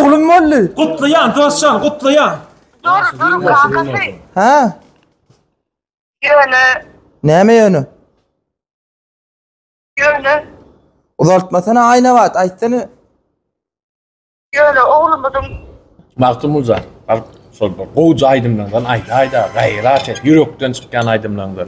Oglum boldy. Gutlaýan dostjan gutlaýan. Dur dur kakasy. Hä? Ýöne. Näme ýöne? Ýöne. Uzaltmasana aýnabat aýtsana. Ýöne oglumyzyň. Magtymguly şol bir gowja aýdymlardan aýdaýda gaýrat et ýürekden çykýan aýdymlaňdan.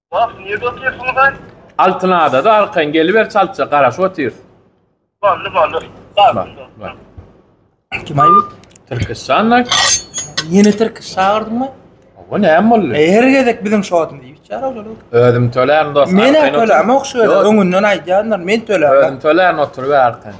Bas, nirde oturýarsyňyz-aý? Altyn adada arkaýyn geliber çaltja, garaşyp otyrys. Boldy, boldy. Bar. Kim-aý bu? Türküstanly. Ýene türk çagyrdyňmy? Bu näme boldy? Her gezek biziň şodum diýip çara olar. Özüm tölärin dost. Men tölämok şöyle öňünden aýdýanlar, men tölämok. Özüm tölärin oturyp arkaýyn.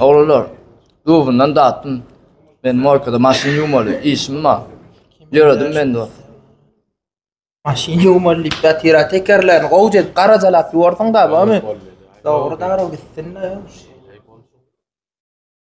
Oglanlar, dubundan datdym. Men morkada maşyn ýuwmaly, işim bar. Ýöredim men dost. Maşyn ýuwmaly diýip, datira tekerlerini gowja edip garajalap ýuwarsyň-da, bamy? Dogry darag gitsin-de.